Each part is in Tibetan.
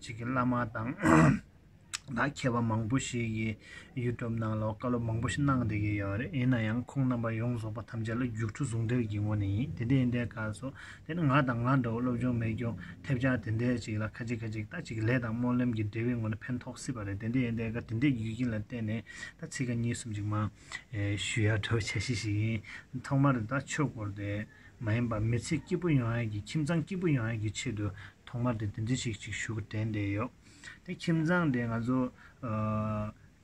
ཅིག་གི་བླ་མ་དང་ད་མཁས་པ་མང་པོ་ཞིག་གི YouTube ནང་ལ་བཀའ་སློབ་མང་པོ་ཞིག་གནང་བསྡད་ཀྱི་ཡོད་རེད་ཡིན་ན་ཡང་ཁོང་རྣམ་པ་ཡོངས་རྫོགས་པ་ཐམས་ཅད་ལ་རྒྱུགས་འཕྲོ་ཟུང་འབྲེལ་གྱི་ངོ་ནས་ཡིན་དེ་འདྲ་ཡིན་པའི་སྐབས་སུ་དེ་ནི་ང་དང་ང་འདྲ་བ་སློབ་སྦྱོང་མེད་སྐྱོང་ཐེབས་ཆག་དེ་འདྲས་ཅིག་ལ་ཁ་ཅིག་ཁ་ཅིག་ད་ཅིག་གི་ལས་དང་སྨོན་ལམ་གྱི་འབྲས་བུའི་ངོ་ནས་ཕན་ཐོགས་སྲིད་པ་རེད་དེ་འདྲ་ཡིན་པའི་སྐབས་དེ་འདྲའི་རྒྱུ་རྐྱེན་ལ་བརྟེན་ནས་ད་ཚིག་ཁ་གཉིས་གསུམ་ཅིག་མ་ཞུ་ཡ་བྲོ་བྱ་ཤེས་ཤིག་ཡིན་ཐོག་མར་དུ་ད་ཆོས་སྐོར་དེ། མ་ཡིན་པར་མི་ཚེ་སྐྱིད་པོ་ཡོང་ཡག་གི་ཁྱིམ་ཚང་སྐྱིད་པོ་ཡོང་ཡག་གི་ཆེད་དུ་ཐོག་མར་དེ་དེ་འདྲི་ཞིག་ཅིག་ཞུ་བ་དྲན་བསྡད་ཡོད། དེ་ཁྱིམ་ཚང་དེ་ང་ཚོ།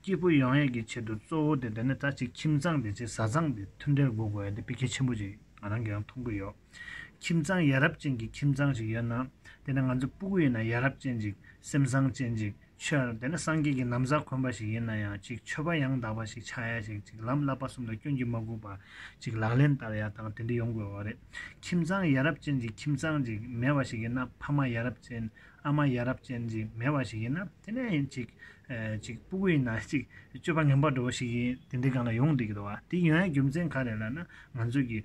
སྐྱིད་པོ་ཡོང་ཡག་གི་ཆེད་དུ་གཙོ་བོ་དེ་དེ་ནས་ད་ཅིག་ཁྱིམ་ཚང་དེ་ཆེ་བཟའ་ཚང་དེ་མཐུན་འབྲེལ་དགོས་དགོས་དེ་དཔེ་གལ་ཆེན་པོ་ཅིག་ང་རང་གིས་ཡང་མཐོང་གི་ཡོད། ཁྱིམ་ཚང་ཡ་རབས་ཅན་གྱི་ཁྱིམ་ཚང་ཞིག་ཡོད་ན། དེ་ནས་ང་ཚོ་སྤུ་གུ་ཡིན་ན་ཡ་རབས་ཅན་ཅིག་སེམས་བཟང་ཅན་ཅིག་ཕྱིར། དེ་ནི་སངས་རྒྱས་ཀྱི་ནམ་བཟའ་འཁོན་པ་ཞིག་ཡིན་ན་ཡང་ཅིག་མཆོད་པ་ཡང་དག་པ་ཞིག་ཆགས་ཡ་ཞིག་ཅིག་ལམ་བསླབ་པ་གསུམ་ལ་སྐྱོན་གྱིས་མ་གོས་པ་ཅིག་ལག་ལེན་བསྟར་ཡ་དང་དེ་འདྲ་ཡོང་དགོས་བ་རེད། ཁྱིམ་ཚང་ཡ་རབས་ཅན་གྱི་ཁྱིམ་ཚང་ཅིག་མེད་བ་ཞིག་ཡིན་ན་ཕ་མ་ཡ་རབས་ཅན་ཨ་མ་ཡ་རབས་ཅན་ཅིག་མེད་བ་ཞིག་ཡིན་ན་དེ་ནས་ཡིན་ཅིག། ཅིག་སྤུ་གུ་ཡིན་ན་ཅིག་སྤྱོད་པ་ངན་པ་འགྲོ་བ་ཞིག་ཡིན་དེ་འདྲའི་སྒང་ལ་ཡོང་སྡིག་གི་རེད་བ་དེའི་ཡོན་ཡ་རྒྱུ་མཚན་ག་རེ་ལ་ན་ང་ཚོས་ཀྱི་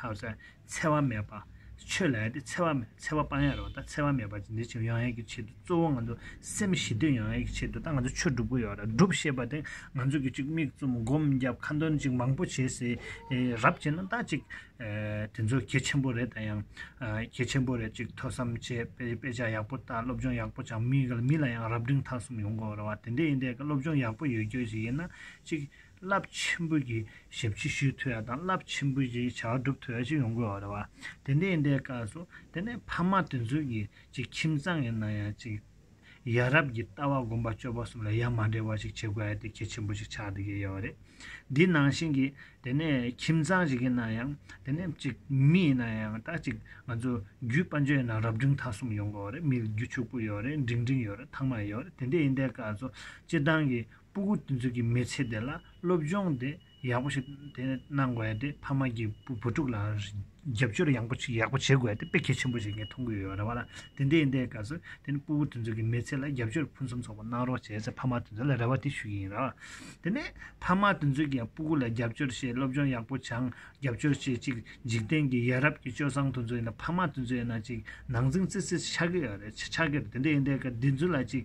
ཧཱུྃ། འཚེ་བ་མེད་པ། ཆོས་ལ་ཡ་དེ་འཚེ་བ་མེད་འཚེ་བ་སྤང་ཡ་རོག་ད་འཚེ་བ་མེད་པ་ཅི་འདི་བྱེད་ཡང་ཡ་གི་ཆེད་དུ་གཙོ་བོ་ང་ཚོ་སེམས་ཞི་དུས་ཡང་ཡ་གི་ཆེད་དུ་ད་ང་ཚོ་ཆོས་སྒྲུབ་གི་ཡོད་རེད་སྒྲུབ་ཤེས་པ་དེ་ང་ཚོ་གི་ཅིག་མིག་བཙུམ་སྒོམ་རྒྱབ་ཁ་འདོན་ཅིག་མང་པོ་བྱེད་སའི་རབ་བྱེད་ན་ད་ཅིག་དེ་ཚོ་གལ་ཆེན་པོ་རེད་ད་ཡང་གལ་ཆེན་པོ་རེད་ཅིག་ཐོས་བསམ་བྱས་དཔེ་ཆ་ཡག་པོ་ལྟ་སློབ་སྦྱོང་ཡག་པོ་བྱ་མི་ལ་ཡང་རབ་འབྲིང་ཐང་གསུམ་ཡོང་དགོས་རེད་བ་དེ་འདྲས་ཡིན་དེ་སློབ་སྦྱོང་ཡག་པོ་ཡོད་རྒྱུ་ཞིག་ཡིན་ན་ཅིག་རླབས་ཆེན་པོ་ཀྱི་ཞབས་ཕྱི་ཞུས་ཐུབ་ཡ་དང་རླབས་ཆེན་པོ་ཀྱི་བྱ་བ་སྒྲུབ་ཐུབ་ཡ་ཞིག་ཡོང་དགོས་བ་རེད་བ། དེ་འདྲའི་ཡིན་པའི་སྐབས་སུ་དེ་ནས་ཕ་མ་དེ་ཚོས་ཀྱི་ཅིག་ཁྱིམ་ཚང་གི་ནང་ཡང་ཅིག་ཡ་རབས་ཀྱི་ལྟ་བ་སྒོམ་པ་སྤྱོད་པ་གསུམ་ལ་ཡ་མ་འདྲེས་བ་ཞིག་བྱེད་དགོས་ཡ་དེ་གལ་ཆེན་པོ་ཞིག་ཆགས་འདུག་གི་ཡོད་བ་རེད། འདི་ནང་བཞིན་གྱི་དེ་ནས་ཁྱིམ་ཚང་ཞིག་གི་ནང་ཡང་དེ་ནས་ཅིག་མི་ཡི་ནང་ཡང་ད་ཅིག་ང་ཚོ་རྒྱུད་དཔལ་འབྱོར་ཡི་ནང་རབ་འབྲིང་ཐ་གསུམ་ཡོང་དགོས་བ་རེད་མི་རྒྱུད་ཕྱུག་པོ་ཡོད་རེད་འབྲིང་འབྲིང་ཡོད་རེད་ཐང་མ་ཡོད་རེད་དེ་འདྲའི་ཡིན་པའི་སྐབས་སུ་སྤྱིར་བཏང་གི། སྤུ་གུ་དེ་ཚོ་གི་མི་ཚེ་དེ་ལ་སློབ་སྦྱོང་དེ་ཡག་པོ་ཞིག་དེ་གནང་དགོས་ཡས་དེ་ཕ་མ་གི་བུ་བུ་ཕྲུག་ལ་རྒྱབ་སྐྱོར་ཡང་པོ་ཡག་པོ་བྱེད་དགོས་ཡས་དེ་དཔེ་གལ་ཆེན་པོ་ཞིག་ངས་མཐོང་གི་ཡོད་རེད་བ་ལ་དེ་འདྲའི་འདའི་སྐབས་སུ་དེ་ནི་སྤུ་གུ་དེ་ཚོ་གི་མི་ཚེ་ལ་རྒྱབ་སྐྱོར་ཕུན་སུམ་ཚོགས་པོ་གནང་རོགས་བྱས་ཚེ་ཕ་མ་དེ་ཚོ་ལ་རེ་བ་དེ་ཞུ་གི་ཡིན་རེད་བ་དེ་ནས་ཕ་མ་དེ་ཚོ་གི་ཡང་སྤུ་གུ་ལ་རྒྱབ་སྐྱོར་བྱས་སློབ་སྦྱོང་ཡག་པོ་བྱང་རྒྱབ་སྐྱོར་བྱས་ཅིག་འཇིག་རྟེན་གི་ཡ་རབས་ཀྱི་སྤྱོད་བཟང་དེ་ཚོ་ཡིན་ན་ཕ་མ་དེ་ཚོ་ཡིན་ན་ཅིག་ནང་འཛིང་ཙི་ཙི་ཆགས་ཀྱི་ཡོད་རེད་ཆགས་ཀྱི་རེད་དེ་འདའི་འདའི་སྐབས་དེ་ཚོ་ལ་ཅིག།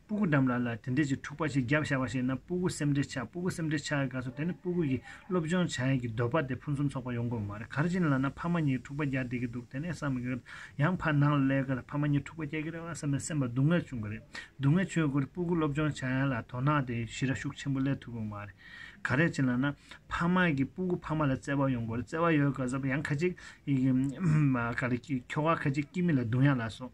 སྤུ་གུ་འདམ་ལ་ལ་དེ་འདྲས་ཀྱི་འཁྲུག་པ་ཞིག་བརྒྱབ་བཞག་པ་ཞིག་ན་སྤུ་གུ་སེམས་འདྲེ་ཆགས་སྤུ་གུ་སེམས་འདྲེ་ཆགས་ག་ཚོད་དེ་ནི་སྤུ་གུ་ཡིས་སློབ་སྦྱོང་བྱ་ཡས་ཀྱི་འདོད་པ་དེ་ཕུན་སུམ་ཚོགས་པ་ཡོང་དགོས་མ་རེད་གར་གྱི་ལ་ན་ཕ་མ་གཉིས་འཁྲུག་པ་རྒྱག་བསྡད་ཀྱི་འདུག་དེ་ནས་བསམ་གི་ཡང་ཕར་ནང་ལ་སླེབས་གི་ཕ་མ་གཉིས་འཁྲུག་པ་རྒྱག་གི་རེད་བ་བསམ་ནས་སེམས་པ་སྡུག་བསྔལ་བྱུང་གི་རེད་སྡུག་བསྔལ་བྱུང་གི་སྤུ་གུ་སློབ་སྦྱོང་བྱ་ཡས་ལ་དོ་སྣང་དེ་ཞི་ར་ཤུགས་ཆེན་པོ་སླེབས་ཐུབ་གི་མ་རེད་ག་རེད་གྱི་ལ་ན་ཕ་མ་གི་སྤུ་གུ་ཕ་མ་ལ་བརྩེ་བ་ཡོང་དགོས་རེད་བརྩེ་བ་ཡོད་ག་ཚོད་ཡང་ཁ་ཅིག་གི་ཁྱོ་ག་ཁ་ཅིག་སྐྱིད་མི་ལ་སྡུག་ཡ་ལ་སོང།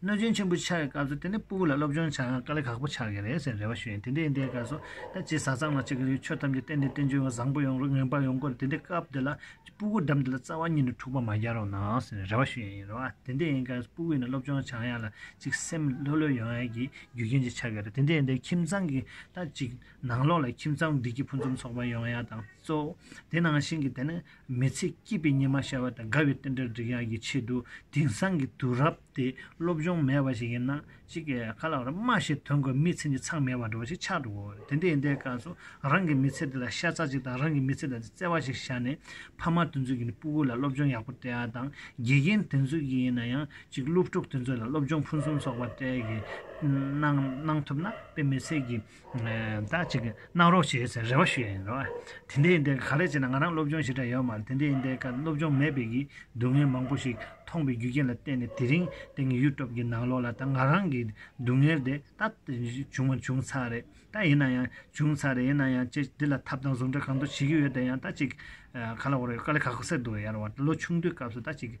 གནོད་སྦྱིན་ཆེན་པོ་ཆགས་ཀྱི་སྐབས་སུ་དེ་ནས་སྤུ་གུ་ལ་སློབ་སྦྱོང་བྱ་དཀའ་ལས་ཁག་པོ་ཆགས་ཀྱི་རེད་ཟེར་རེ་བ་ཞུ་ཡིན་དེ་འདྲའི་འདའི་སྐབས་སུ་ད་ཅི་ཟ་ཚང་ལ་ཅི་གི་རེད་ཆོས་ཐམས་ཅད་གཏན་ནས་བསྟན་བཅོས་ཡང་བཟང་པོ་ཡོང་རོགས་ངན་པ་ཡོང་དགོས་རེད་དེ་འདྲའི་སྐབས་དེ་ལ་ཅི་སྤུ་གུ་འགྲམ་དེ་ལ་རྩ་བ་ཉིད་ནས་འཁྲུག་པ་མ་རྒྱག་རོགས་གནང་ཟེར་རེ་བ་ཞུ་ཡིན་རེ་བ་དེ་འདྲའི་སྐབས་སུ་སྤུ་གུ་ཡིན་ན་སློབ་སྦྱོང་བྱ་ཡག་ལ་ཅིག་སེམས་ལྷོད་ལྷོད་ཡོང་ཡག་གི་རྒྱུ་རྐྱེན་ཅིག་ཆགས་ཀྱི་རེད་དེ་འདྲའི་འདའི་ཁྱིམ་ཚང་གི་ད་ཅིག་ནང་ལོགས་ལ་ཁྱིམ་ཚང་བདེ་སྐྱིད་ཕུན་སུམ་ཚོགས་པ་ཡོང་ཡག་དང་གཙོ་བོ་དེ་ནང་བཞིན་གྱི་དེ་ནི་མི་ཚེ་སྐྱིད་པའི་ཉི་མ་ཤར་བ་དང་དགའ་བའི་རྟེན་འབྲེལ་བསྒྲིག་ཡག་གི་ཆེད་དུ་དེང་སང་གི་དུས་རབས་དེ་སློབ་སྦྱོང་མེད་པ་ཞིག་ཡིན་ན་གཅིག་གི་ཁ་ལག་རུ་རྨ་ཞིག་དོན་དགོས་མི་ཚེ་འདི་ཚང་མེད་པར་འགྲོ་བ་ཞིག་ཆགས་འགྲོ་གི་དེ་འདྲའི་ཡིན་ཏེ་སྐབས་སུ་རང་གི་མི་ཚེ་འདི་ལ་ཤ་ཚ་ཅིག་དང་རང་གི་མི་ཚེ་དང་བརྩེ་བ་ཞིག་བཞག་ནས་ཕ་མ་དེ་ཚོས་ཀྱི་ནི་སྤུ་གུ་ལ་སློབ་སྦྱོང་ཡག་པོ་སྤྲད་ཡག་དང་དགེ་རྒན་དེ་ཚོས་ཀྱི་ཡིན་ན་ཡང་གཅིག་སློབ་ཕྲུག་དེ་ཚོ་ལ་སློབ་སྦྱོང་ཕུན་སུམ་ཚོགས་པ་སྤྲད་ཀྱི་གནང་ཐུབ་ན་དཔེ་མི་ཚེ་གི་ཟླ་གཅིག་གི་གནང་རོགས་བྱས་ཟེར་རེ་བ་ཞུ་ཡས་ཡིན་རེད་བ། དེ་འད་ཡིན་དེ་ག་རེ་བྱས་ན་ང་རང་སློབ་སྦྱོང་ཞིག་འདྲ་ཡོད་མ་རེད་དེ་འད་ཡིན་དེ་ག་སློབ་སྦྱོང་མེད་པའི་གིས་སྡུག་བསྔལ་མང་པོ་ཞིག་མཐོང་པའི་རྒྱུ་རྐྱེན་ལ་བརྟེན་ནས་དེ་རིང་འད་ངས YouTube གི་ནང་ལོག་ལ་ད་ང་རང་གི་སྡུག་བསྔལ་འདི་ད་བྱུང་བ་བྱུང་ཚར་རེད་ད་ཡིན་ན་ཡང་བྱུང་ཚར་རེད་ཡིན་ན་ཡང་ཅེས་འདི་ལ་ཐབས་དང་ཟུང་འབྲེལ་གང་འདུག་བྱེད་ཀྱི་ཡོད་དེ་ཡང་ད་ཅིག་ག་ལ་འོ་རེད་ག་ལ་ག་གོ་སེ་འདུག་ཡ་རེད་བ་ལོ་ཆུང་དུས་སྐབས་སུ་ད་ཅིག་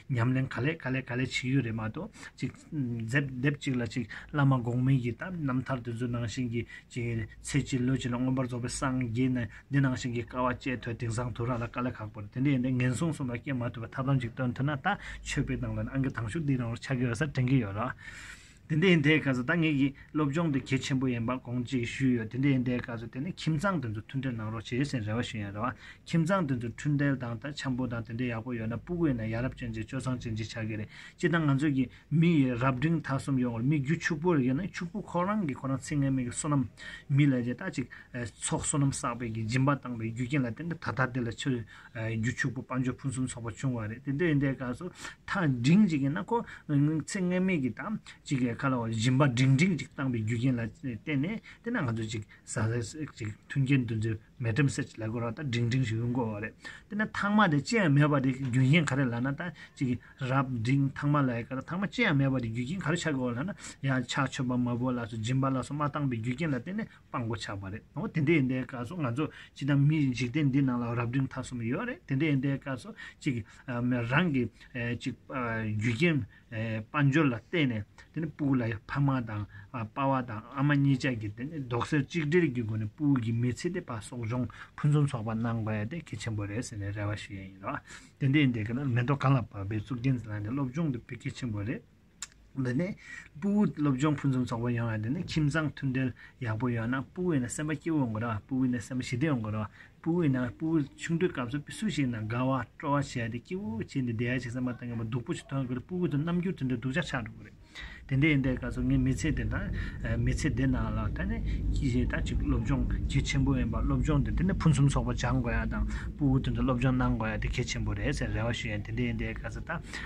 ཉམས་ལེན་ག་ལེ་ག་ལེ་ག་ལེ་བྱེད་ཡུལ་རེད་མ་གཏོགས་ཅིག་མཛེབ་དེབ་ཅིག་ལ་ཅིག་བླ་མ་འགོག་མེད་ཀྱི་དམ་རྣམ་ཐར་དེ་ཚོ་ནང་བཞིན་གྱི་ཅིག་ཚེ་གཅིག་ལུས་གཅིག་ལ་མངོན་པར་རྫོགས་པའི་སངས་རྒྱས་ནི་འདི་ནང་བཞིན་གྱི་དཀའ་བ་སྤྱད་ཐོས་དིང་སང་དུ་རག་ལ་ག་ལེ་ཁག་པོར་དེ་འདྲའི་ཡིན་ན་ངན་སོང་གསུམ་ལ་སྐྱེ་མ་ཐུབ་པར་ཐབས་ལམ་ཅིག་སྟོན་ཐུབ་ན་ད་ཆོས་པའི་ནང་ལ་ནི་ཨང་ཀི་དང་ཤུགས་འདིའི་རང་བར་ཆགས་ཀྱི་ཡོད་ས་དྲན་གྱི་ཡོད་རོགས། དེ་འདྲའི་ཟླའི་སྐར་ཚོ་ད་ངེད་ཀྱི་སློབ་སྦྱོང་དུ་གལ་ཆེན་པོ་ཡིན་པ་དགོངས་བཅིངས་ཞུས་ཡོད་དེ་འདྲའི་ཟླའི་སྐར་ཚོ་དེ་ནི་ཁྱིམ་ཚང་དེ་ཚོ་མཐུན་འབྲེལ་གནང་རོགས་བྱེད་སའི་རེ་བ་ཞུ་ཡང་རེ་བ་ཁྱིམ་ཚང་དེ་ཚོ་འཕྲུལ་འབྲེལ་དང་ད་འཆམ་པོ་དང་དེ་འདྲའི་ཡག་པོ་ཡོད་ན་སྤུ་གུས་ནས་ཡ་རབས་ཅན་གྱི་སྤྱོད་བཟང་ཅན་གྱི་ཆགས་ཀྱི་རེད་སྤྱི་དང་ང་ཚོས་ཀྱི་མི་ཡི་རབས་འབྲིང་ཐ་གསུམ་ཡོང་བར་མི་རྒྱུད་ཕྱུག་པོ་རེ་ཡོད་ན་ཕྱུག་པོ་ཁོ་རང་གིས་ཁོ་རང་ཚིག་ངན་མིག་གི་བསོད་ནམས་མི་ལས་ཀྱི་ད་ཅིག་ཚོགས་བསོད་ནམས་བསགས་པའི་གྱི་སྦྱིན་པ་བཏང་པའི་རྒྱུ་རྐྱེན་ལ་བརྟེན་ཏེ་ད་ལྟ་དེ་ལ་ཆུ་རྒྱུ་ཕྱུག་པོ་དཔའ་འབྱོར་ཕུན་སུམ་ཚོགས་པ་བྱུང་བ་རེད་དེ་འདི་འདྲའི་སྐབས་སུ་ཐག་འབྲིང་ཅིག་ཡིན་ན་ཁོ་ཚེ་ངན་སྨྲས་ཀྱི་དང་ཅིག་གི་ཁ་ལ་བ་ཞིམ་པ་འབྲིང་འབྲིང་ཅིག་བཏང་པའི་རྒྱུ་རྐྱེན་ལ་བརྟེན་ནས་དེ་ན་ང་ཚོ་ཅིག་ཟ་ཟས་ཅིག་མཐུན་རྐྱེན་འདུ་འཛི་མེད་ཁྲིམས་སེར་ཅིག་ལ་གོ་ར་ད་འབྲིང་འབྲིང་ཞིག་ཡོང་དགོས་བ་རེད་དེ་ན་ཐག་མ་དེ་ཅི་ཡང་མེད་པ་དེ་རྒྱུ་རྐྱེན་ག་རེ་ལ་ན་ད་ཅིག་གི་རབ་འབྲིང་ཐག་མ་ལ་ཡི་ཁར་ཐག་མ་ཅི་ཡང་མེད་པ་དེ་རྒྱུ་རྐྱེན་ག་རེ་ཆགས་དགོས་བ་ལ་ན་ཡང་ཆགས་ཆོས་པ་མ་བོ་ལ་སོ་སྦྱིན་པ་ལ་སོ་མ་བཏང་པའི་རྒྱུ་རྐྱེན་ལ་བརྟེན་ནས་དཔང་པོ་ཆགས་པ་རེད་ཨོ་དེ་འདྲའི་ཡིན་པའི་སྐབས་སུ་ང་ཚོ་ཅི་ལྟར་མི་འཇིག་རྟེན་འདི་ནང་ལ་རབ་འབྲིང་ཐ་གསུམ་ཡོད་རེད་དེ་འདྲའི་ཡིན་པའི་སྐབས་སུ་གཅིག་གིས་རང་གི་གཅིག་རྒྱུ་རྐྱེན་དཔའ་འབྱོར་ལ་བརྟེན་ནས་དེ་ནི་སྤུག་ལ་ཕ་མ་དང་དཔའ་བ་དང་ཨ་མ་གཉིས་ཅག་གིས་དེ་ནི་རྡོག་སེལ་གཅིག་སྒྲིལ་གྱི་སྒོ་ནས་སྤུག་གི་མི་ཚེ་དེ་བ་སོག་འབྱུང་ཕུན་སུམ་ཚོགས་པ་གནང་དགོས་དེ་གལ་ཆེན་པོ་རེད་ཟེར་ནས་རེ་བ་ཞུ་ཡས་ཡིན་རོ་ཨ་དེ་འདྲའི་ཡིན་པའི་སྐབས་ན་མེ་ཏོག་གང་ལ་བབས་པའི་གཙུག་རྒྱན་ཟེར་ལ་ནི་སློབ་སྦྱོང་དེ་བོད་སྐད་ཆེན་པོ་རེད། འདི་ནི་སྤུ་བོའི་སློབ་སྦྱོང་ཕུན་སུམ་ཚོགས་པོ་ཡོང་བའི་འདི་ནི་ཁྱིམ་ཚང་མཐུན་སྒྲིལ་ཡག་པོ་ཡོང་ན་སྤུ་བོའི་ནང་སེམས་པ་སྐྱིད་བོ་ཡོང་གི་རེད་སྤུ་བོའི་ནང་སེམས་པ་ཞི་བདེ་ཡོང་གི་རེད་སྤུ་བོའི་ནང་སྤུ་བོ་ཆུང་དུས་སྐབས་སུ་སུ་ཞིག་ནང་དགའ་བ་སྤྲོ་བ་བྱས་ཏེ་སྐྱིད་བོ་བྱས་ཏེ་བསྡད་ཅིག་སེམས་པ་གཏིང་གི་བ་སྡུག་པོ་ཞིག་ཐོན་གི་རེད་སྤུ་བོ་དང་རྣམ་འགྱུར་དེ་འདྲ་སྡུག་ཅག་ཆགས་འགྲོ་གི་རེད་དེ་འདྲའི་ཡིན་པའི་སྐབས་སུ་ངའི་མི་ཚེ་འདི་དང་མི་ཚེ་འདི་ནང་ལ་ད་ནི་ད་ཅིག་སློབ་སྦྱོང་གལ་ཆེན་པོ་ཡིན་པ་སློབ་སྦྱོང་འདི་དེ་ནི་ཕུན་སུམ་ཚོགས་པོ་སྦྱང་དགོས་ཡ་དང་སྤུ་བོ་དེ་འདྲ་སློབ་སྦྱོང་གནང་དགོས་ཡ་དེ་གལ་ཆེན་པོ་རེད་ཟེར་རེ་བ་ཞུ་ཡ་དེ་འདྲའི་ཡིན་པའི་སྐབས་སུ་ད་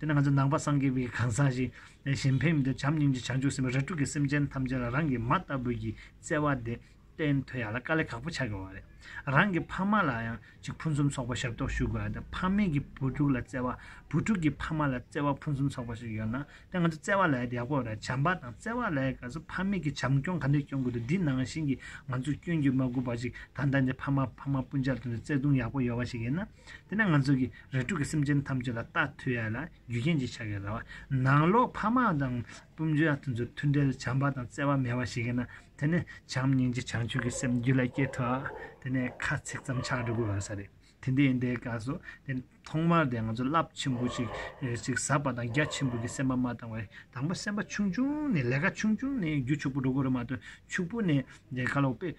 དེ་ནས་ང་ཚོས་ནང་པ་སངས་རྒྱས་པའི་གང་ཟག་ཞིག་གཞན་ཕན་མི་འདོད་བྱམས་སྙིང་རྗེ་བྱང་ཆུབ་སེམས་དཔའ་རལ་གྲུ་གིས་སེམས་ཅན་ཐམས་ཅད་ལ་རང་གི་མ་ལྟ་བུ་ཡིས་བརྩེ་བ་དེ་བསྟན་ཐོས་ཡ་ལ་དཀའ་ལས་ཁག་པོ་བྱ་དགོས་པ་རེད། རང་གི་ཕ་མ་ལ་ཡང་ཅིག་ཕུན་སུམ་ཚོགས་པ་ཞབས་ཏོག་ཞུ་དགོས་ཡ་དེ་ཕ་མེས་ཀྱི་བུ་ཕྲུག་ལ་བརྩེ་བ་བུ་ཕྲུག་གི་ཕ་མ་ལ་བརྩེ་བ་ཕུན་སུམ་ཚོགས་པ་ཞིག་ཡོད་ན་དེ་ང་ཚོ་བརྩེ་བ་ལས་ཡག་པོ་རེད་བྱམས་པ་དང་བརྩེ་བ་ལས་ཀ་ཚོ་ཕ་མེས་ཀྱི་བྱམས་སྐྱོང་ག་འདྲས་སྐྱོང་དགོས་འདུག་འདི་ནང་བཞིན་གྱི་ང་ཚོས་སྐྱོན་གྱིས་མ་གོས་པ་ཅིག་ད་ལྟ་འདི་ཕ་མ་ཕ་མ་སྤུན་ཅག་ལ་དོན་དུ་བརྩེ་དུང་ཡག་པོ་ཡོད་པ་ཞིག་ཡིན་ན། དེ་ནས་ང་ཚོ་གིས་རེ་དྲུག་གི་སེམས་ཅན་ཐམས་ཅད་ལ་རྟ་ཐུལ་ཡ་ལ་རྒྱུ་རྐྱེན་གྱི་ཆ་གས་ར་བ་ནང་ལོག་ཕ་མ་དང་སྤུན་མཆེད་ཡ་ཐུ་ཚོར་མཐུན་འབྲེལ་བྱམས་པ་དང་བརྩེ་བ་མེད་པ་ཞིག་ཡིན་ན་དེ་ནི་བྱམས་སྙིང་རྗེ་བྱང་ཆུབ་ཀྱི་སེམས་རྒྱུད་ལ་སྐྱེ་ཐུབ་ཨ་དེ་ནས་ཁ་ཚིག་ཙམ་ཆགས་འགྲོ་དགོས་ཡོད་ས་རེད་དེ་འདི་ཡིན་དེ་ག་སོ་དེ་ཐོག་མར་དེ་ང་ཚོ་རླབས་ཆེན་པོ་ཞིག་ཟབ་པ་དང་རྒྱ་ཆེན་པོ་གི་སེམས་པ་མ་བཏང་བའི་དང་པོ་སེམས་པ་ཆུང་ཆུང་ནས་ལས་ཀ་ཆུང་ཆུང་ནས་རྒྱུ་ཕྱུག་པོ་འགྲོ་དགོས་རེད་མ་གཏོགས་ཕྱུག་པོ་ནས་དེ་ག་ལོག་པས་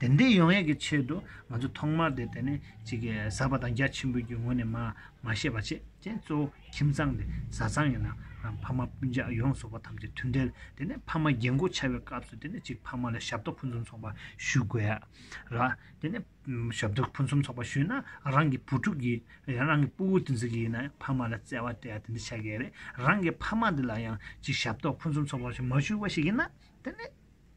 དེ་འདི་ཡོང་ཡས་ཀྱི་ཆེད་དུ་ང་ཚོ་ཐོག་མར་དེ་དེ་ནས་ཅིག་གི་ཟ་བ་དང་རྒྱ་ཆེན་པོ་ཀྱི་ངོས་ནས་མ་མ་བཤད་པ་བྱེད་ཀྱི་གཙོ་བོ་ཁྱིམ་ཚང་དེ་བཟའ་ཚང་ཡིན་ན་ཕ་མ་སྤུན་ཆགས་ཡོངས་རྫོགས་པ་ཐམས་ཅད་མཐུན་འབྲེལ་དེ་ནས་ཕ་མ་རྒྱན་གོས་འཆའ་བའི་སྐབས་སུ་དེ་ནས་ཅིག་ཕ་མ་ལ་ཞབས་ཏོག་ཕུན་སུམ་ཚོགས་པ་ཞུ་དགོས་ཡ་ར། དེ་ནས་ཞབས་ཏོག་ཕུན་སུམ་ཚོགས་པ་ཞུས་ན་རང་གི་བུ་ཕྲུག་གི་ཡང་རང་གི་སྤུ་བོ་དེ་ཚོ་གི་ཡིན་ན་ཕ་མ་ལ་བརྩེ་བ་དེ་ཡང་དེ་འདྲ་ཆགས་ཀྱི་རེད་རང་གི་ཕ་མ་འདི་ལ་ཡང་ཅིག་ཞབས་ཏོག་ཕུན་སུམ་ཚོགས་པ་ཞིག་མ་ཞུ་བ་ཞིག་ཡིན་ན་དེ་ནས་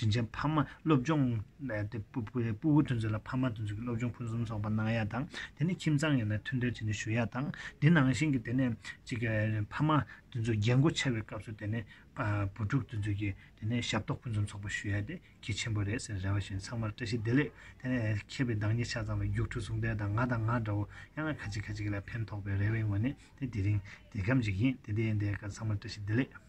དྲིན་ཆེན་ཕ་མ་སློབ་སྦྱོང། སྤུ་བོ་དོན་འཛིན་ལ་ཕ་མ་དོན་འཛིན་གྱི་སློབ་སྦྱོང་ཕུན་སུམ་ཚོགས་པ་གནང་ཡ་དང་དེ་ནས་ཁྱིམ་ཚང་ཡོད་ན་མཐུན་འབྲེལ་བྱས་ནས་ཞུ་ཡ་དང་དེ་ནང་བཞིན་གྱི་དེ་ནས་གཅིག་ཕ་མ་དེ་ཚོ་རྒྱལ་མགོ་ཆེ་བའི་སྐབས་སུ་དེ་ནས་བུ་ཕྲུག་དེ་ཚོ་གྱི་དེ་ནས་ཞབས་ཏོག་ཕུན་སུམ་ཚོགས་པ་ཞུ་ཡ་དེ་གལ་ཆེན་པོ་རེད་ཟེར་རེ་བ་བཞིན་ཚང་མར་བཀྲ་ཤིས་བདེ་ལེགས་དེ་ནས་མཁས་པའི་བདག་ཉིད་ཆ་ཚང་བའི་རྒྱུགས་འཕྲོ་ཟུང་འབྲེལ་དང་ང་དང་ང་འདྲ་བོ་ཡང་ན་ཁ་ཅིག་ཁ་ཅིག་ལ་ཕན་ཐོགས་པའི་རེ་བའི་ངོས་ནས་དེ་དེ་རིང་དེ་གམ་འཇིག་ཡིན་དེ་དེ་ཡིན་དེ་ག་ཚང་མར་བཀྲ་ཤིས་བདེ་ལེགས།